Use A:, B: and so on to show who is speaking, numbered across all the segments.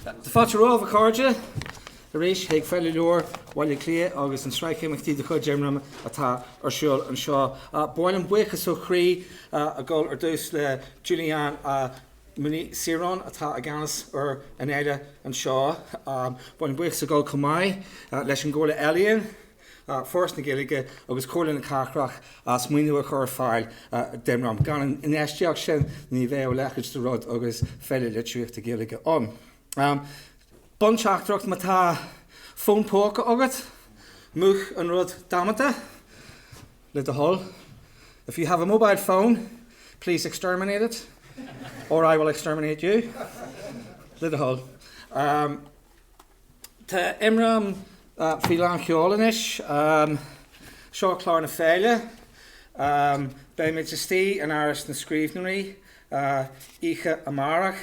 A: Tá fáilte romhaibh, a chairde, arís chuig Féile Leabhar Bhaile Átha Cliath agus an tsraith imeachtaí de chuid imram atá ar siúl anseo. Ba mhaith linn buíochas ó chroí a ghabháil ar dtús le Julianne Mooney Siron atá i gceannas ar an fhéile anseo. Ba mhaith linn buíochas a ghabháil chomh maith leis an gComhairle Ealaíon, Foras na Gaeilge agus Comhairle na Cathrach as maoiniú a chur ar fáil d'Imram. Gan an infheistíocht sin ní bheadh a leithéid de rud agus Féile Litríochta Gaeilge ann. Bunteachtaireacht, má tá fón póca agat, múch an rud damanta, le do thoil, If you have a mobile phone, please exterminate it, or I will exterminate you, le do thoil. Tá Imram faoi lán sheol anois. Seo clár na féile. Beimid istigh in Áras na Scríbhneoirí oíche amárach.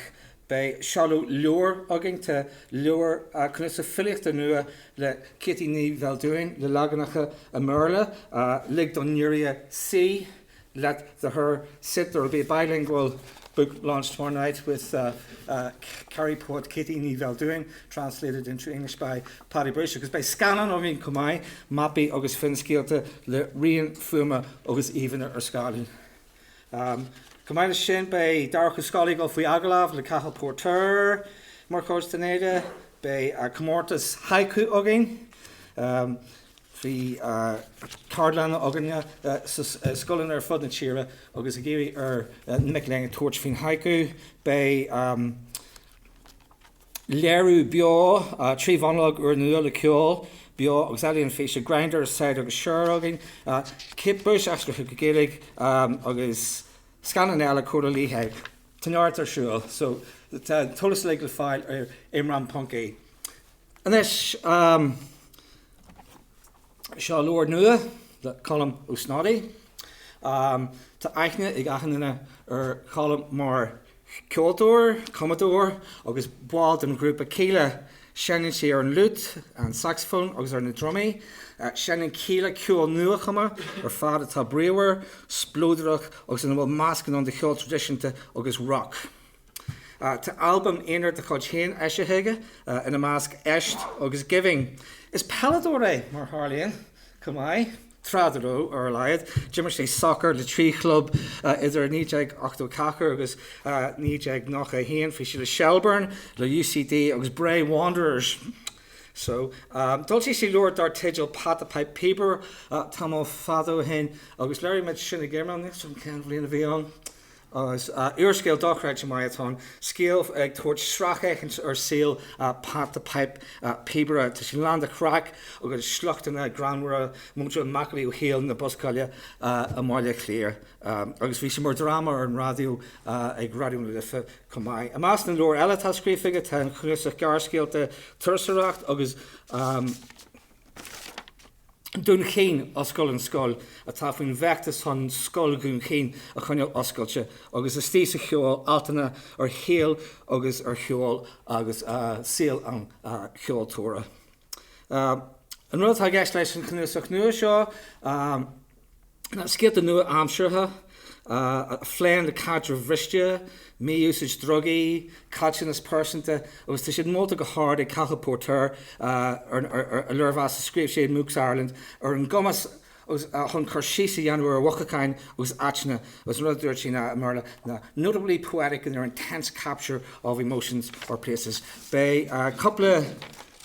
A: Beidh seoladh leabhair againn. Tá leabhar, cnuasach filíochta nua le Ceaití Ní Bheildiúin le leaganacha i mBéarla, Lig don nGiorria Suí. let the hare sit, there will be a bilingual book launch tomorrow night with Kerry poet Ceaití Ní Bheildiúin translated into English by Paddy Bushe agus beidh scannán againn chomh maith, mapaí agus finscéalta le rian fuaime agus íomhánna ar scáileán. Chomh maith leis sin beidh Darach Ó Scolaí ag dul faoi agallamh le Cathal Póirtéir mar chuid den fhéile, beidh comórtas haiku againn, Bhí ceardlanna againn i scoileanna ar fud na tíre agus ag iarraidh ar na mic léinn tabhairt faoin haiku. Beidh léiriú beo trí mhonalóg úrnua le ceol beo agus ealaíon físe, Grindr, Saghdar agus Cher againn, Kate Bush aistrithe go Gaeilge agus scannán eile, Cóta Liatha, tá neart ar siúl! So tá an t-eolas uilig le fáil ar imram.ie. Anois, seo leabhar nua le Colm Ó Snodaigh. Tá aithne ag achan duine ar Cholm mar cheoltóir, cumadóir agus ball den ghrúpa Kíla. Seinneann sé ar an fhliút, an sacsafón agus ar na drumaí. Seinneann Kíla ceol nua-chumtha ar fad atá bríomhar, spleodrach agus ina bhfuil meascán ann de cheol traidisiúnta agus roc. Tá albaim aonair dá chuid féin eisithe aige, ina measc Éist agus Giving. Is peileadóir é, mar a tharlaíonn, chomh maith, tráth dá raibh, ar a laghad. D'imir sé sacar le trí chlub idir 1984 agus 1991, bhí sé le Shelbourne, le UCD agus Bray Wanderers. So d'fhoilsigh sé leabhar dar teideal Pat the Pipe Píobaire tamall fada ó shin agus léirigh muid sin ag imram, níl 'fhios a'm cén bhliain a bhí ann. Is úrscéal dochreidte maith atá ann, scéal ag tabhairt sracfhéachaint ar saol Pat the Pipe, píobaire. Tá sé lán de chraic agus sliochtanna greannmhara, muintir an macallaí ó shaol na buscála i mBaile Átha Cliath, agus bhí sé mar dhráma ar an raidió ag Raidió na Life chomh maith. I measc na leabhar eile atá scríofa aige tá an cnuasach gearrscéalta Turasóireacht agus. Dún Chaoin, Oscail an Scoil, atá faoin bhfeachtas chun Scoil Dhún Chaoin a choinneáil oscailte, agus Istigh sa Cheol, altanna ar shaol agus ar cheol agus saol an cheoltóra. An rud atá i gceist leis an chnuasach nua seo, Scéalta nua-aimseartha a phléann le caidrimh bhriste, mí-úsáid drugaí, caillteanas pearsanta agus tá siad molta go hard ag Cathal Póirtéir i léirmheas a scríobh sé i mBooks Ireland ar an gcumas chun cur síos a dhéanamh ar mhothúcháin agus áiteanna agus an rud a dúirt sé ná, i mBéarla, ná notably poetic in their intense capture of emotions or places. Beidh cúpla.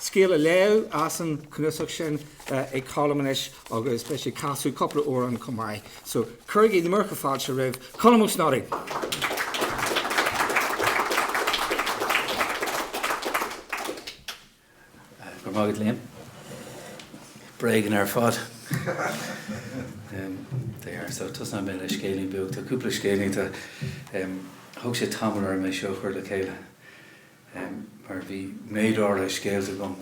A: Scéal á léamh as an chnuasach sin ag Colm anois agus beidh sé ag casadh cúpla amhrán chomh maith. So, cuirigí na múrtha fáilte roimh Colm Ó Snodaigh!
B: Go raibh maith agat, Liam. Bréagan ar fad. They are. So, tosóidh mé le scéilín beag. Tá cúpla scéilín de. Thóg sé tamall orm é seo a chur le chéile. em, mar bhí méid áirithe scéalta agam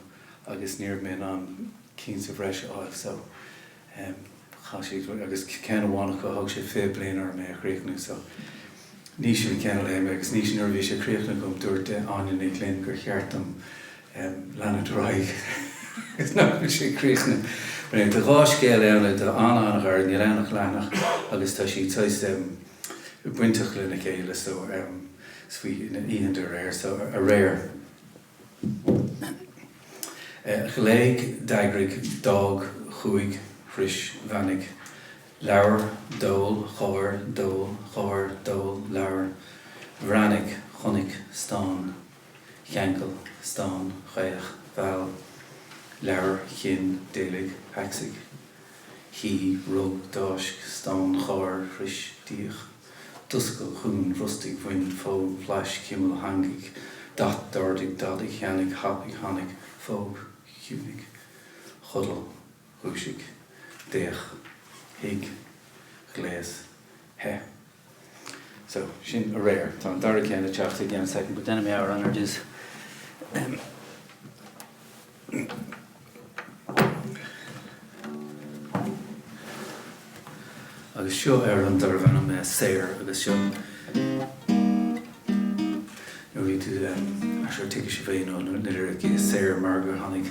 B: agus ní raibh mé in ann cinn sa bhreis a fháil so em chaith siad, agus ceann amháin acu, thóg sé 20 bliain orm é a chríochnú so ní sin an ceann a léifidh mé agus ní, nuair a bhí sé críochnaithe agam dúirt Áine Ní Ghlinn gur cheart dom em leanúint ar aghaidh agus nach bhfuil sé críochnaithe. Anyway, tá dhá scéal ann a, tá an-an-ghearr, níl ann ach leathanach agus tá siad saghas em. bainteach lena chéile so is faoi na oícheanta aréir so aréir ghlaoigh d'eagraigh d'fhág chuaigh shrois bheannaigh labhair d'ól gháir d'ól gháir d'ól labhair bhreathnaigh chonaic stán cheangail stán chaoch mheall labhair chinn d'éalaigh thacsaigh. Shuigh, rug, d'fháisc, stán, gháir, shrois, d'íoc, d'oscail, dhún, bhrostaigh, bhain, phóg, bhlais, chimil, theangaigh, d'at, d'ardaigh, d'fhadaigh, theannaigh, thapaigh, tháinig, phóg, chiúnaigh, chodail, dhúisigh, d'fhéach, thuig, ghléas, theith. So, sin aréir. Tá an dara ceann ag teacht i gceann soicind, but then a amhrán ard is em. Agus seo ar an darb ainm Saor agus seo nó b'fhéidir go dtuigfidh sibh féin ó nuair a Saor mar gur tháinig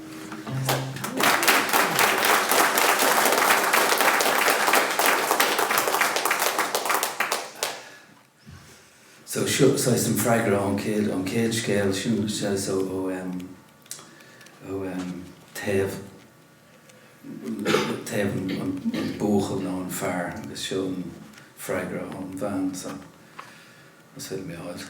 B: So, seo saghas an freagra ón chéad, ón chéad scéal sin, so ó, ó em, ó em, taobh, taobh an, an, an buachaill nó an fear agus seo an freagra ón bhean, so, más féidir liom é a fháil.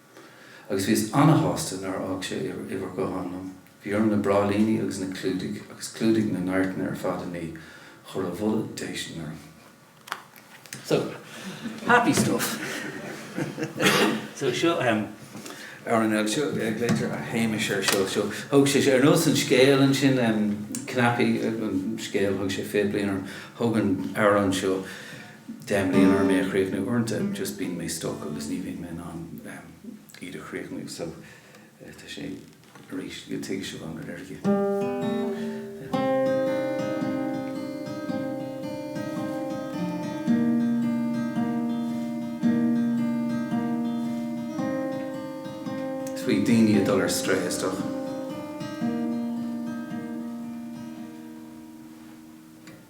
B: agus bhíos ana-shásta nár fhág sé uimhir ghutháin dom. Bhí orm na bráillíní agus na clúdaigh agus clúdaigh na n-adhairteanna ar fad a ní, chuir a bholadh déistin orm. So, happy stuff. So, seo em. Ar an seo, glaoitear ar Shéamais air seo. So, thóg sé sé, ar nós an scéil ansin em, cnaipí an scéil, thóg sé fiche bliain orm, thóg an amhrán seo, deich mbliana orm é a chríochnú. Uaireanta just bíonn mé stuck agus ní bhíonn mé in ann iad a chríochnú so tá sé arís go dtuigfidh sibh an rud ar fhiú. Is faoi daoine ag dul ar strae is dócha.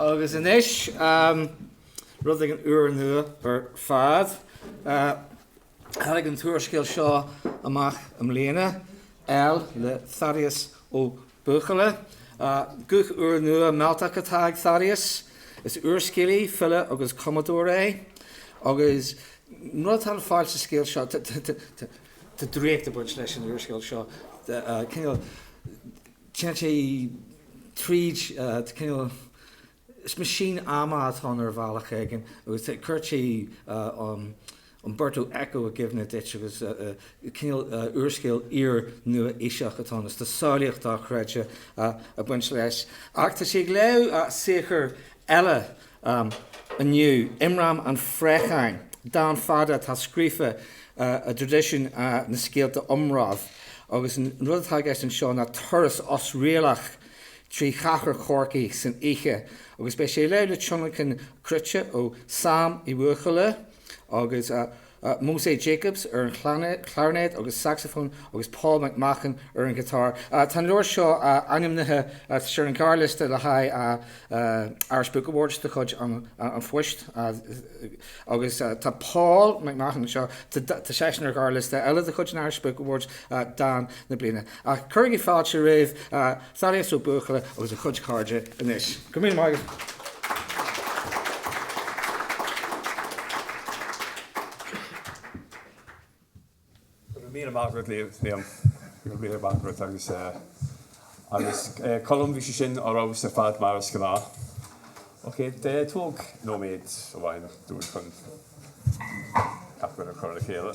A: Agus anois, rud éigin úrnua ar fad. Tháinig an t-úrscéal seo amach i mbliana, EL le Thaddeus Ó Buachalla. Guth úrnua mealltach atá ag Thaddeus. Is úrscéalaí, file agus cumadóir é agus an rud atá le fáil sa scéal seo, tá draíocht ag baint leis an úrscéal seo, cineál, téann sé tríd, cineál, Is meaisín ama atá ann ar bhealach éigin agus chuirfeadh sé Umberto Eco i gcuimhne duit agus cineál úrscéal iar-nua-aoiseach atá ann is tá samhlaíocht dochreidte ag baint leis. Ach tá sé ag léamh saothar eile inniu, Immram an Phréacháin, dán fada atá scríofa i dtraidisiún na scéalta iomraimh agus an rud atá i gceist anseo ná turas osréalach trí chathair Chorcaí san oíche agus beidh sé ag léamh le tionlacan cruite ó Sam Uí Bhuachalla agus Moze Jacobs ar an chlairinéad agus sacsafón agus Paul McMahon ar an ghiotár. Tá an leabhar seo ainmnithe agus ar an ghearrliosta le haghaidh Irish Book Awards de chuid an Phoist agus tá Paul McMahon anseo, tá seisean ar ghearrliosta eile de chuid an Irish Book Awards, Dán na Bliana. Cuirigí fáilte roimh. Thaddeus Ó Buachalla agus a chuid cairde anois. Go míle maith
C: agat. Go míle maith agat, Liam. Go míle maith agat agus agus Colm, bhí sé sin ar fheabhas ar fad mar is gnáth. Ok, tóg nóiméad amháin dúinn chun gach rud a chur le chéile.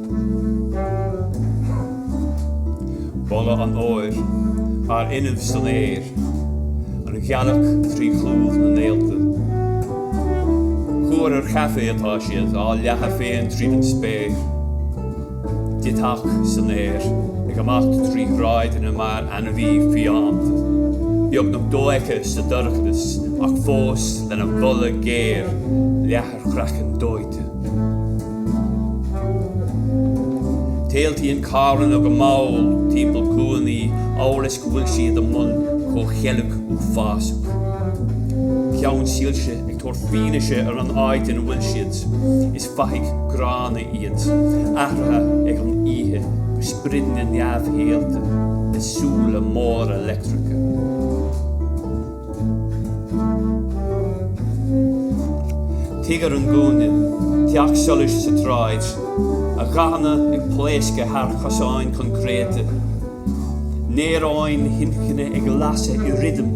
C: Boladh an fhómhair thar an nimh san aer, an ghealach trí chlúmh na néalta. Cúr ar chaife atá siad, á leathadh féin tríd an spéir. Deatach san aer, ag imeacht trí shráideanna mar ainmhí fiánta, beagnach dofheicthe sa dorchadas ach fós lena bholadh géar leath. ar chraiceann dóite. Téaltaíonn carranna go mall timpeall cúinní amhail is go bhfuil siad i mbun comhcheilg uafásach. Ceannsoilse ag tabhairt fianaise ar an áit ina bhfuil siad, is fathaigh gránna iad, athraithe ag an oíche go sprideanna neamhshaolta le súile móra leictreacha. Tigh ar an gcúinne, teach solais sa tsráid, a ghathanna ag pléascadh thar chosáin choincréite, néaróin inchinne ag lasadh i rithim,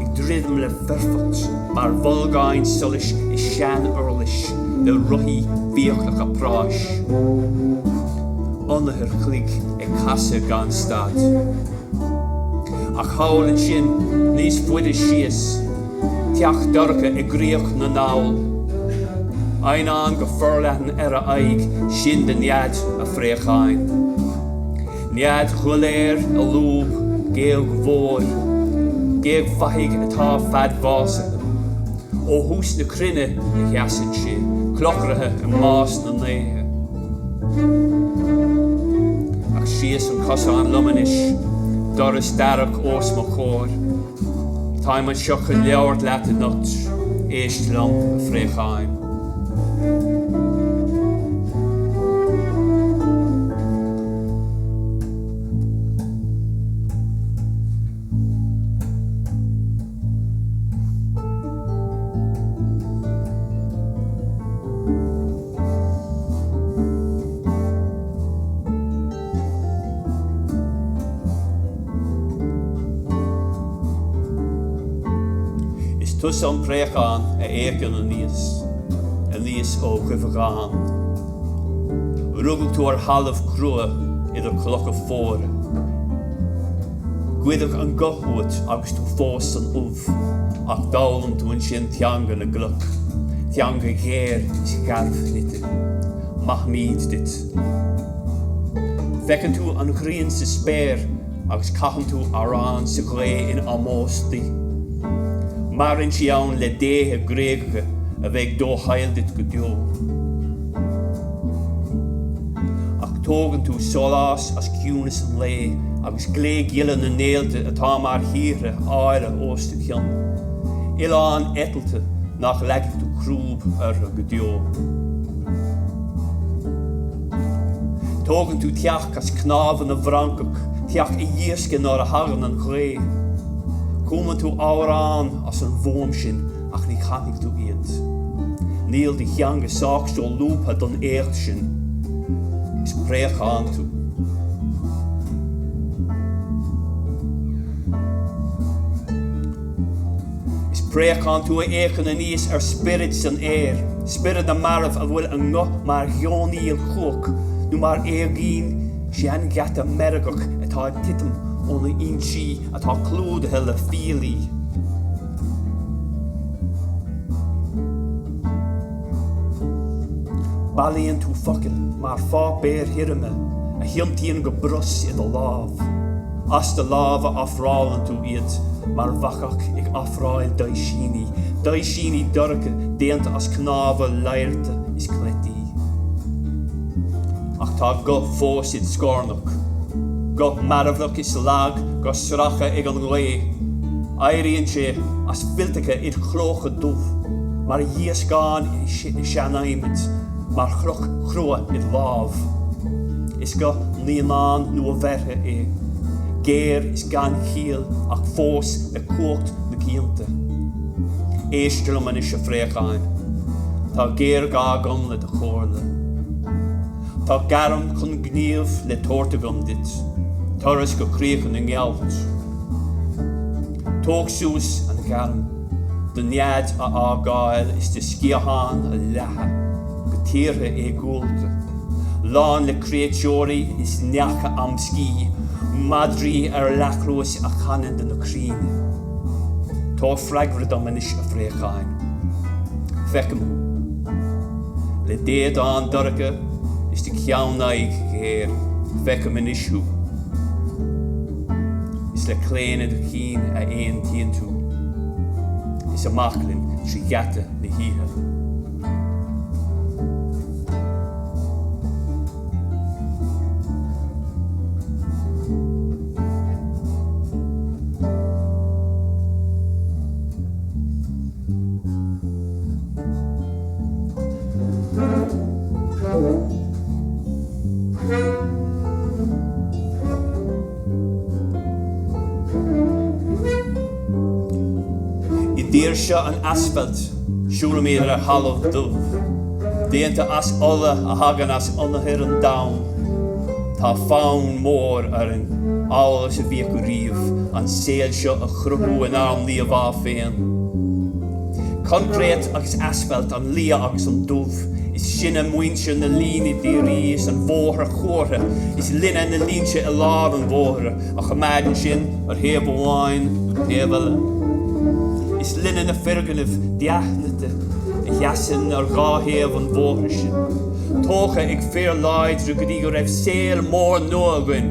C: ag druidim le foirfeacht mar bholgáin solais i sean-uirlis le rothaí fiaclacha práis. Ionathar cloig ag casadh gan stad. Ach thall ansin, níos faide síos, teach dorcha i gCríoch na nDall. Eidhneán go forleathan ar a aghaidh, sin de nead an phréacháin. Nead dhoiléir i lúb géag mhór, géag fathaigh atá fadbhásaithe. Ó thús na cruinne a sheasann sé, clochraithe i mbás na ndéithe. Ach síos an cosán liom anois, doras darach os mo chomhair. Táim anseo chun labhairt leat anocht, éist liom, a phréacháin. Is tusa an préachán a fhéachann aníos, aníos ó dhuibheagán. Rugadh tú ar thalamh crua idir clocha fuara. Goideadh an guth uait agus tú fós san ubh. Ach d'fhoghlaim tú ansin teanga na gcloch, teanga ghéar is gharbhshnoite. Maithimid duit. Feiceann tú an ghrian sa spéir agus caitheann tú amhrán sa ghaoth in ómós di. Maireann sí ann le déithe Gréagacha a bheidh dofhála duit go deo. Ach tógann tú sólás as ciúnas an lae agus. Gléghile na néalta atá mar thíortha áille os do chionn, oileáin eitilte nach leagfaidh tú crúb orthu go deo. Tógann tú teach as cnámha na bhfrancach, teach a dhíoscfaidh nuair a thagann an ghaoth. Cumann tú amhráin as an bhfuaim sin Ach ní chanfaidh tú iad. Níl do theanga sách solúbtha don éacht sin. Is préachán tú. Is préachán tú a fhéachann aníos ar spioraid san aer, spioraid na marbh a bhfuil a nguth mar gheonaíl chumhach nó mar éagaoin seangheata meirgeach atá ag titim óna insí, atá clúdaithe le fiailí. Bailíonn tú focail mar pháipéir thirime a thiontaíonn go brus i do lámh. As do lámha ofrálann tú iad, mar bhacach ag ofráil daighsíní, daighsíní dorcha déanta as cnámha laghairte is cleití. Ach tá guth fós id' scornach. Guth mearbhlach is lag guth sractha ag an ngaoth, éiríonn sé as fillteacha id chlóca dubh mar dhíoscán i sean-adhmaid, mar chloch chrua id lámh. Is guth naíonáin nua-bheirthe é, géar is gan chiall ach fós le cumhacht na gcianta. Éist liom anois, a phréacháin, tá géarghá agam le do chomhairle. Tá gairm chun gnímh le tabhairt agam duit, turas go críocha na ngealt. Tóg suas an ghairm, do nead a fhágáil is do sciatháin a leathadh go tíortha éagúlta, lán le créatúirí is neacha amscaí, madraí ar leathchluais a chanann do na crainn. Tabhair freagra dom anois, a phréacháin. Feicim thú. Le d'éadan dorcha is do cheannaghaidh ghéar, feicim anois thú. Is le claonadh do chinn a aontaíonn tú is amach linn trí gheata na hoíche. I dtír seo an asfailt, siúlaimid ar thalamh dubh, déanta as ola a thagann as ionathar an domhain. Tá fonn mór orainn, amhail is a bhí acu riamh, an saol seo a chruthú inár n-íomhá féin. Coincréit agus asfalt, an liath agus an dubh, is sinne muintir na líne dhírí is an bhóthair chuartha, is linne na línte i lár an bhóthair a choimeádann sinn ar thaobh amháin nó taobh eile. Is linne na foirgnimh dea-shnoite a sheasann ar dhá thaobh an bhóthair sin. tógtha ag fir láidre go dtí go raibh saol mór nua againn,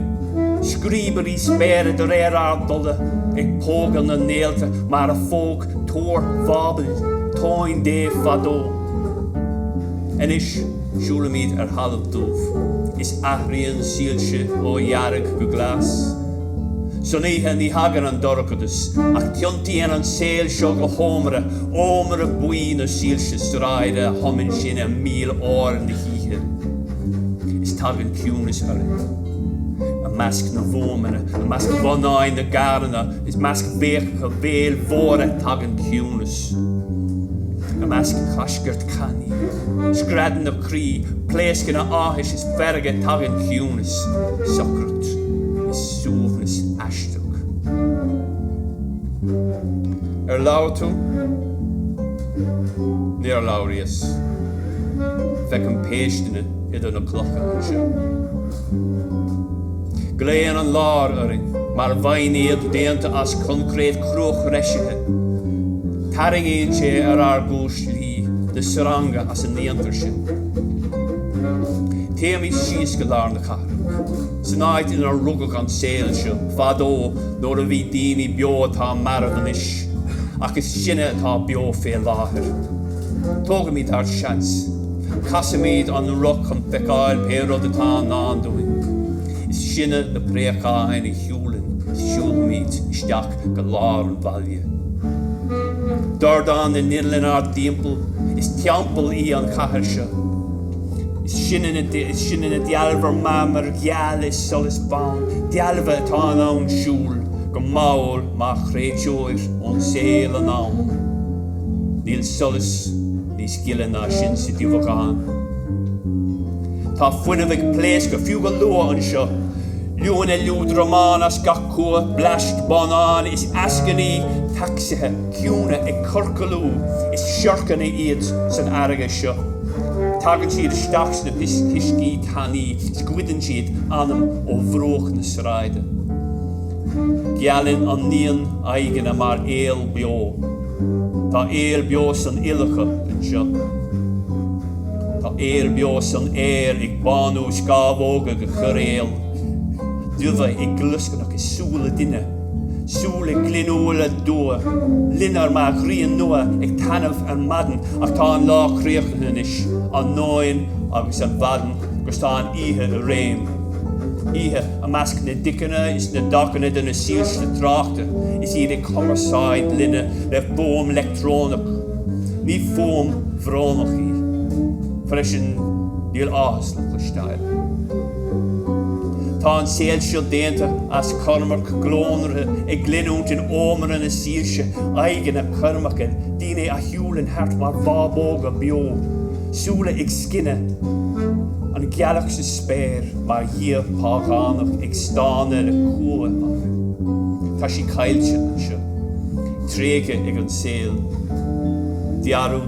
C: scríobairí spéire de réir ár dtola ag pógadh na néalta mar a phóg Túr Bháibil tóin Dé fadó. Anois siúlaimid ar thalamh dubh is athraíonn soilse ó dhearg go glas. San oíche ní thagann an dorchadas, ach tiontaíonn an saol seo go hómra, ómra buí na soilse sráide a thumann sinn i mil fhuar na hoíche. Is tagann ciúnas orainn. I measc na bhfuaimeanna, i measc bhonnáin na gcarranna, is i measc béiceacha béil mhóra tagann ciúnas. I measc choscairt cannaí, screadanna croí, pléascanna áthais is feirge tagann ciúnas, socracht. Suaimhneas aisteach. Ar labhair tú? Níor labhraíos. Feicim péisteanna idir na clocha anseo. Glaonn an lár orainn. Mar mhaighnéad déanta as coincréit cruathreisithe, tarraingíonn sé ar ár gcuislí de shreanga as a ndéantar sinn. Téimid síos go lár na. San áit inar rugadh an saol seo, fadó nuair a bhí daoine beo atá marbh anois, ach is sinne atá beo fé láthair. Tógaimid ár seans. Casfaimid an roth chun feiceáil pé rud atá i ndán dúinn. Is sinne na préacháin a shiúlann is siúlfaimid isteach go lár an bhaile. Dordán na n-inneall inár dtimpeall, is teampall í an chathair seo. Is sinne na dealbha marmair gheal is solais bhán, dealbha atá in ann siúl go mall mar chréatúir ón saol anonn. Níl solas níos gile ná sin sa duibheagán. Tá fuinneamh ag pléascadh fiú go luath anseo, liúanna liúdramáin as gach cumha, blast bonnáin is eascainí tacsaithe, ciúine ag ciorclú, is siorcanna iad san fharraige seo. Tagann siad isteach sna huiscí tanaí is goideann siad anam ó bhruach na sráide. Gealann an neon aghaidheanna mar aol beo. Tá aol beo san fhuil acu anseo. Tá aol beo san aer ag bánú scamhóga go coiréal, dubha ag glioscarnach i súile duine. Súile glinniúla dubha loinnir mar ghrian nua ag taitneamh ar maidin ach tá an lá críochnaithe anois, an nóin agus an mhaidin agus tá an oíche i réim. Oíche i measc na dticeanna is na dtacanna de na soilse tráchta is iad ag cumarsáid linne le fuaim leictreonach. Ní fuaim bhrónach í. Freisin níl áthas le cloisteáil. Tá an saol seo déanta as ceirmeach glónraithe ag glinniúint in ómra na soilse, aghaidheanna ceirmeacha, daoine a shiúlann thart mar bhábóga beo, súile ag scinneadh, an ghealach sa spéir mar dhia págánach ag stánadh le cumha. Tá sí caillte anseo, tréigthe ag an saol. Dearadh.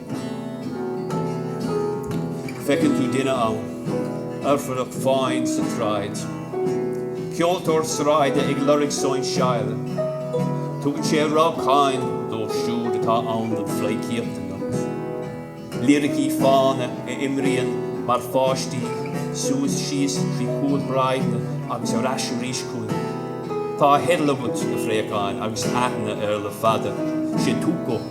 C: Feiceann tú duine ann, Oirfideach fáin sa tsráid, ceoltóir sráide ag lorg sóinseáil. Tugann sé rabhcáin dóibh siúd atá ann don phleidhcíocht anocht. Líricí fána a imríonn mar pháistí, suas síos trí chúlsráideanna agus ar ais arís chugainn. Tá a theideal agat, a phréacáin, agus aithne air le fada, sé Tuco.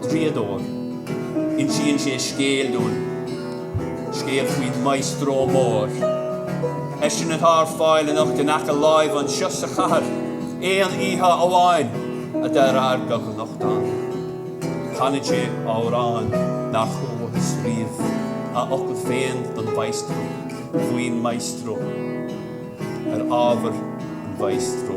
C: Draíodóir. Insíonn sé scéal dúinn, scéal faoin Maestro Mór. Eisean atá ar fáil anocht in aice láimhe anseo sa chathair, aon oíche amháin, de réir gach aon nuachtáin. Canann sé amhrán nár chualathas riamh, a fhocail féin don Mhaestro, faoin Maestro, ar ábhar an Mhaestro.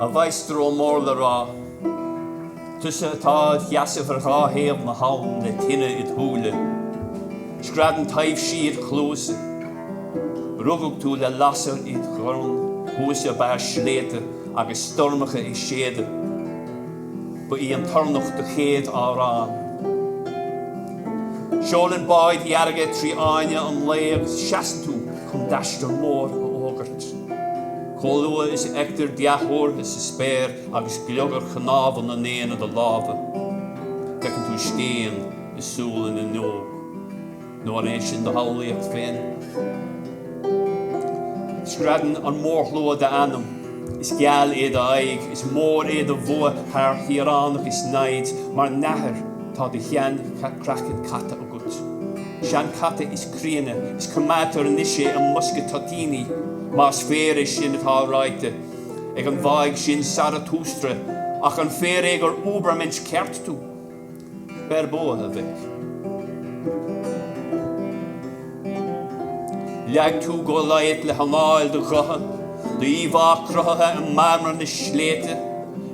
C: A mhaestro mór le rá, tusa atá id sheasamh ar dhá thaobh na habhann le tine id shúile, screadann taibhsí id chluasa, rugadh tú le lasair id dhorn thuas ag barr sléibhte agus stoirmeacha ag séideadh. Ba í an toirneach do chéad amhrán. Seolann báid dhearga trí fháinne an lae agus seasann tú chun d'aistear mór a fhógairt. Chomh luath is a fheictear dea-thuartha sa spéir agus gliogar chnámha na n-éan i do lámha, feiceann tú scéin i súile na n-óg. Nó an é sin do shamhlaíocht féin? Screadann an mórshlua d'Ainm, Is geal é do aghaidh, is mór é do bhua thar thíoránach is namhaid, mar nathair tá do shean-chraiceann caite agat. Seanchaite is críonna, is coimeádtar anois é i mbosca toitíní, más fíor é sin atá ráite ag an bhfáidh sin Saratústra, ach an fíor é gur Uebermensch ceart tú? Beir bua, a mhic. Leag tú Goliath le hanáil do ghutha, do íomhá cruthaithe i marmar na sléibhte.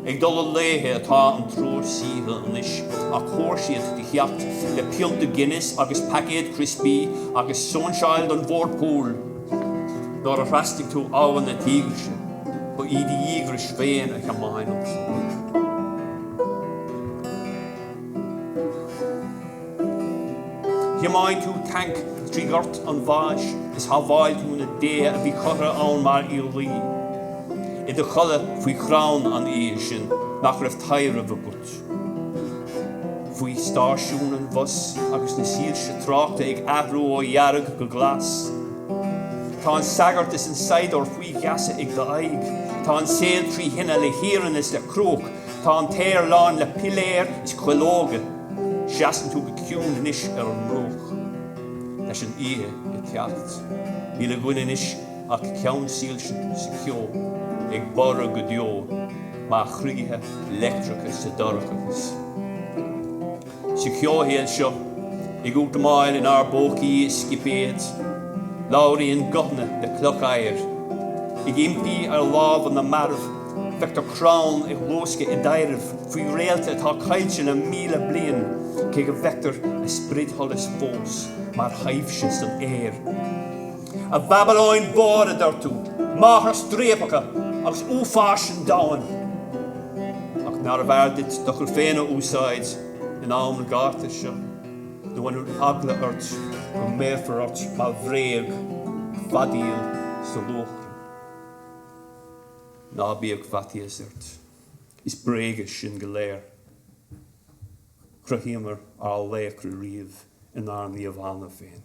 C: Ag dul i léithe atá an triúr saoithe anois ach chomhair siad do theacht le pionta Guinness agus paicéad criospaí agus sóinseáil don bhord púil. Nuair a thrasnaigh tú Abha na Tígrise, ba í do dhíograis féin a thiomáin an triúr. Thiomáin tú tanc trí ghort an bháis is shábháil tú na déithe a bhí curtha ann mar iarlaí i do chodladh faoi chrann an aeir sin nach raibh taibhreamh agat faoi stáisiún an bhus agus na soilse tráchta ag athrú ó dhearg go glas. Tá an sagart is an saighdiúir faoi gheasa ag do aghaidh. Tá an saol trí thine le hiarann is le cruach Tá an t-aer lán le piléir is cuileoga. Seasann tú go ciúin anois ar an mbruach. Leis an oíche ag teacht, níl againn anois ach ceannsoilse sa cheo ag borradh go deo mar chroíthe leictreacha sa dorchadas. Sa cheoshaol seo, ag útamáil inár bpócaí i scipéid, labhraíonn guthanna le cloch oighir. Ag impí ar lámha na marbh, feictear crann ag luascadh i dtaibhreamh faoi réalta atá caillte le míle bliain, cé go bhfeictear a spridsholas fós mar thaibhse san aer. A Bhabalóin mhór, a dúirt tú, máthair striapacha agus uafáis an domhain, ach nárbh fhearr duit d'fhocail féin a úsáid in am an ghátair seo, nó an bhfuil eagla ort go mbéarfar ort mar bhréag feadaíl sa luachra? Ná bíodh faitíos ort, is bréaga sinn go léir. Chruthaíomar ár laochra riamh inár n-íomhánna féin.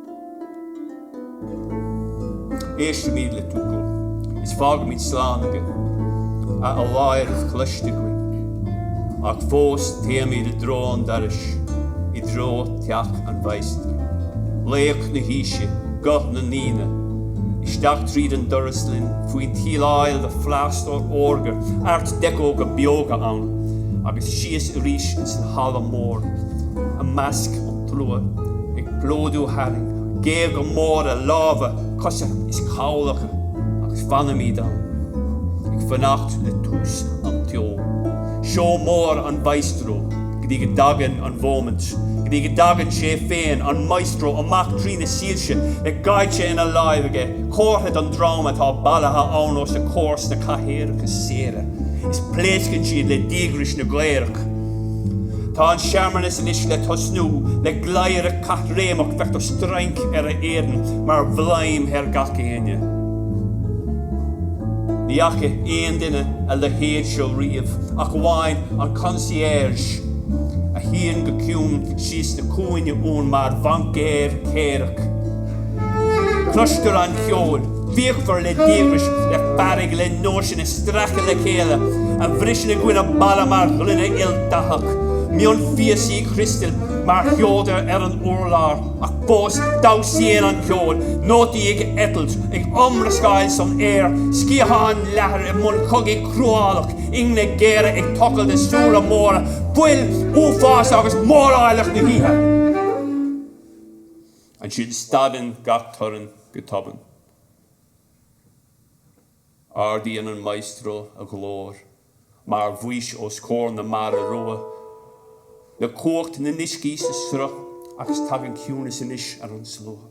C: Éistimid le Dougal is fágaimid slán aige, a fholáireamh cloiste againn, ach fós téimid i dtreo an dorais, i dtreo theach an mhaestro. Laoch na haoise, guth na ndaoine, isteach tríd an doras linn, faoin tsíleáil de phlástar órga, Art Deco go beoga ann, agus síos arís ins an halla mór, i measc an. tslua, ag plódú tharainn, géaga móra, lámha, cosa is cabhlacha, agus fanaimid ann, ag fanacht le tús an tseó, seó mór an mhaestro, go dtí go dtagann an mhóimint, go dtí go dtagann sé féin, an maestro, amach trí na soilse, le geáitse ina láimh aige, comhartha don dream atá bailithe ann os a chomhair sna cathaoireacha saora, is pléascann siad le díograis na gcaorach. Tá an searmanas anois le tosnú, le gleadhradh caithréimeach, feictear strainc ar a éadan mar bhladhm thar gach éinne. Ní fhaca aon duine a leithéid seo riamh, ach amháin an concierge a shuíonn go ciúin síos ina chúinne ann mar bhaincéir céarach, Cloistear an ceol fíochmhar le díograis, le fearg, le nóisin a stracadh le chéile, a bhriseann i gcoinne balla mar ghloine ildathach, mionphíosaí criostail mar sheodra ar an urlár, ach fós damhsaíonn an ceol, nótaí ag eitilt, ag iomrascáil san aer, sciatháin leathair i mbun cogaidh chruálach, ingne géara ag tochailt i súile móra, fuil, uafás agus móráilleacht na hoíche. Ansin stadann gach torann go tobann. Ardaíonn an maestro a ghlór mar Mhaois os comhair na Mara Rua le cumhacht na n-uiscí sa sruth agus tagann ciúnas anois ar an slua.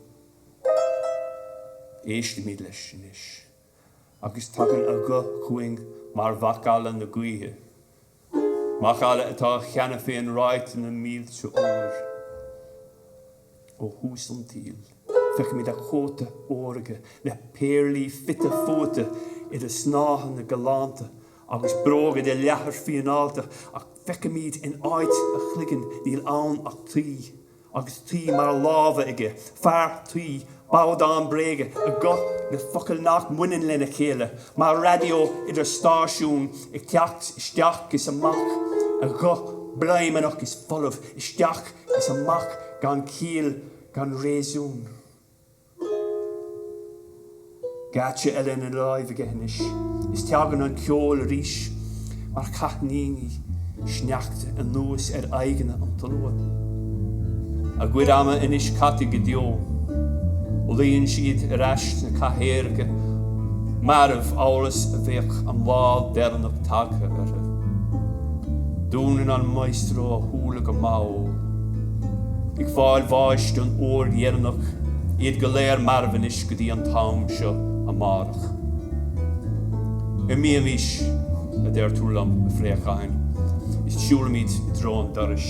C: Éistimid leis anois agus tagann a ghuth chugainn mar mhacalla na gaoithe. Macalla atá cheana féin ráite na mílte uair ó thús an tsaoil. Feicimid a chóta órga le péarlaí fite fuaite idir a snáitheanna galánta agus bróga de leathar fíneálta ach feicimid in áit a chloiginn níl ann ach tuí. agus tuí mar lámha aige, fear tuí, babhdán bréige, a ghuth le focail nach mbaineann lena chéile, mar raidió idir stáisiúin ag teacht isteach is amach, a ghuth bladhmannach is folamh isteach is amach gan chiall gan réasún. Geáitse eile ina láimh aige anois, is teagann an ceol arís mar chaithníní sneachta anuas ar aghaidheanna an tslua. A gcuid ama anois caite go deo. Luíonn siad ar ais sna cathaoireacha marbh amhail is a bheadh an lá deireanach tagtha orthu. Dúnann an maestro a shúile go mall. ag fáil bháis don uair dheireanach, iad go léir marbh anois go dtí an t-am seo amárach. Imímís, a deir tú liom, a phréacháin, is siúlaimid i dtreo an dorais.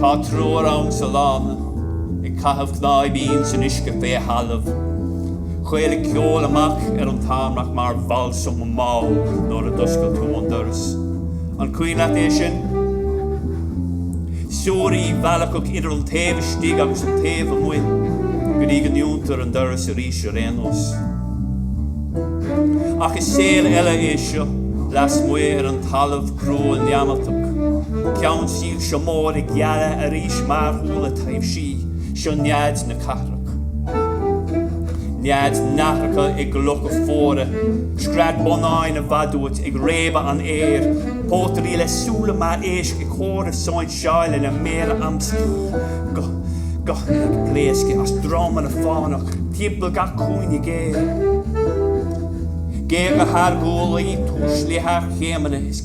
C: Tá triúr ann sa lána ag caitheamh cnáibe insan uisce fé thalamh. Chaolaigh ceol amach ar an tarmac mar bhalsam mall nuair a d'oscail tú an doras. An cuimhin leat é sin? Suirí mheallacach idir an taobh istigh agus an taobh amuigh go dtí go ndúntar an doras arís ar aon nós. Ach is saol eile é seo lasmuigh ar an talamh crua neamartach, ceann Soilse móra ag gealadh arís mar shúile taibhsí, seo nead na cathrach. Nead nathracha i gclocha fuara, scread bonnáin i bhfad uait ag réabadh an aeir, pótairí le súile mar éisc ag comhaireamh sóinseáil le méara amscaí, guth ag pléascadh as dromanna fánach timpeall gach cúinne géar. Géaga thar ghuaillí, tuislithe thar chéimeanna is.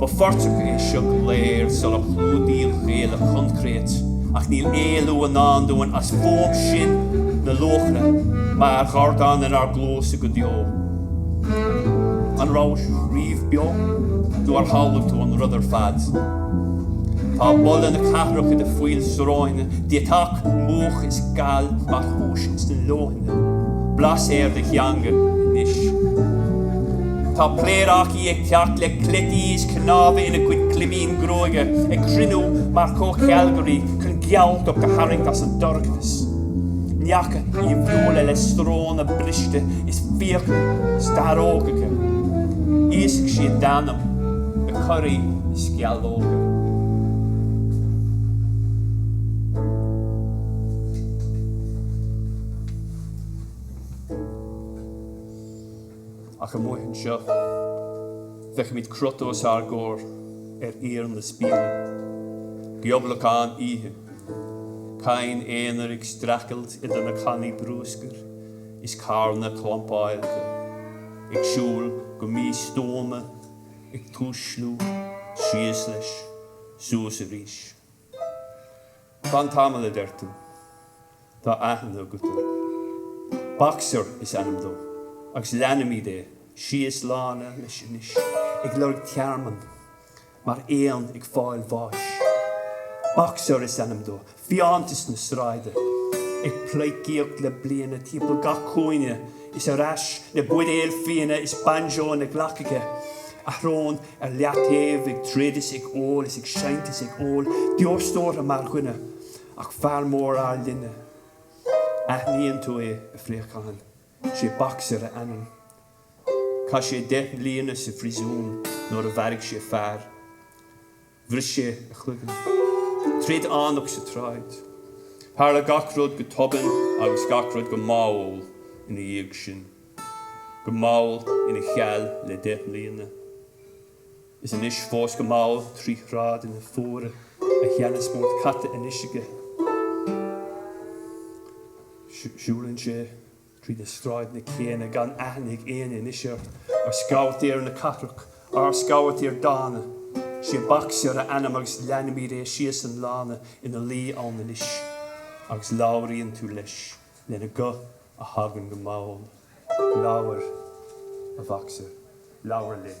C: Ba phortach é seo go léir sular chlúdaíodh é le coincréit, ach níl éalú i ndán dúinn as fuaim sin na luachra mar dhordán inár gcluasa go deo. An rabhais riamh beo? Nó ar shamhlaigh tú an rud ar fad? Tá boladh na cathrach i do phoill sróine, deatach, múch is gal mar thúis sna leoithne, blas ar do theanga anois. Tá pléaráca í ag teacht le cleití is cnámha ina cuid clibín gruaige, ag cruinniú mar chomhchealgairí chun gealtacht a tharraingt as an dorchadas. Neacha aoibhiúla le sróna briste is fiacla starrógacha. Íosfaidh siad d'anam le curaí is sceallóga. ach amuigh anseo, feicimid crot os ár gcomhair ar íor na spéire. Gioblacán oíche. Cadhain aonair ag streachailt idir na cannaí brúscair is carranna clampáilte, ag siúl go místuama, ag tuisliú, síos leis, suas arís. Fan tamall, a deir tú. Tá aithne agat air. Boxer is ainm dó agus leanaimid é síos lána leis anois ag lorg tearmainn mar éan ag fáil bháis. Boxer is ainm dó, fiántas na sráide ag pleidhcíocht le bliana timpeall gach cúinne is ar ais le buidéal fíona is banjo ina ghlac aige, a shrón ar leataobh ag troid is ag ól is ag seinnt is ag ól beoir stórtha mar dhuine, ach fear mór ár linne. Aithníonn tú é, a phréacháin. Sé Boxer a ainm. Chaith sé deich mbliana sa phríosún nuair a mharaigh sé fear. Bhris sé a chloigeann. Troid fhánach sa tsráid. Tharla gach rud go tobann agus gach rud go mall ina dhiaidh sin. go mall ina cheall le deich mbliana. Is anois fós go mall trí shráideanna fuara a sheana-spórt caite anois aige. Siúlann sé tríd na sráideanna céanna gan aithne ag éinne anois air. Ár scabhaitéir na cathrach, ár scabhaitéir dána. Sé Boxer a ainm agus leanfaimid é síos an lána ina luí ann anois agus labhraíonn tú leis. lena guth a thagann go mall, Labhair, a Bhoxer, labhair linn!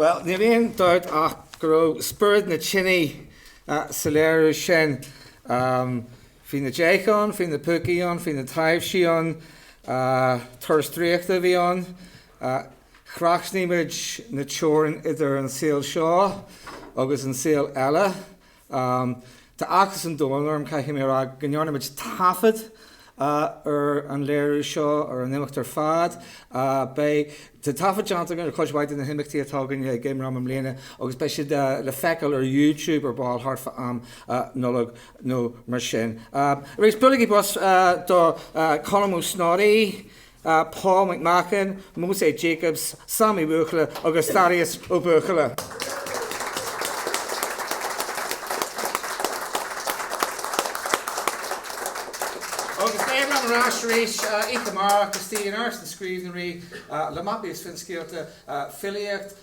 A: Bhuel, níl aon dabht ach go raibh spiorad na tine sa léiriú sin. Bhí na déithe ann, bhí na púcaí ann, bhí na taibhsí ann, turas draíochta a bhí ann, Thrasnaigh muid na teorainn idir an saol seo agus an saol eile. Tá áthas an domhain orm, caithfidh mé a rá, go ndearna muid taifead ar an léiriú seo, ar an imeacht ar fad. Beidh, tá taifead déanta againn ar chuid mhaith de na himeachtaí atá againn ag IMRAM i mbliana agus beidh siad le feiceáil ar YouTube ar ball thart fá am Nollag nó mar sin. Arís, buailigí bos do Colm Ó Snodaigh! a Paul McMahon, Moze Jacobs, Sam Uí Bhuachalla agus Thaddeus Ó Buachalla. Agus beidh muid ar ais arís oíche amárach, istigh in Áras na Scríbhneoirí, le mapaí is finscéalta, filíocht,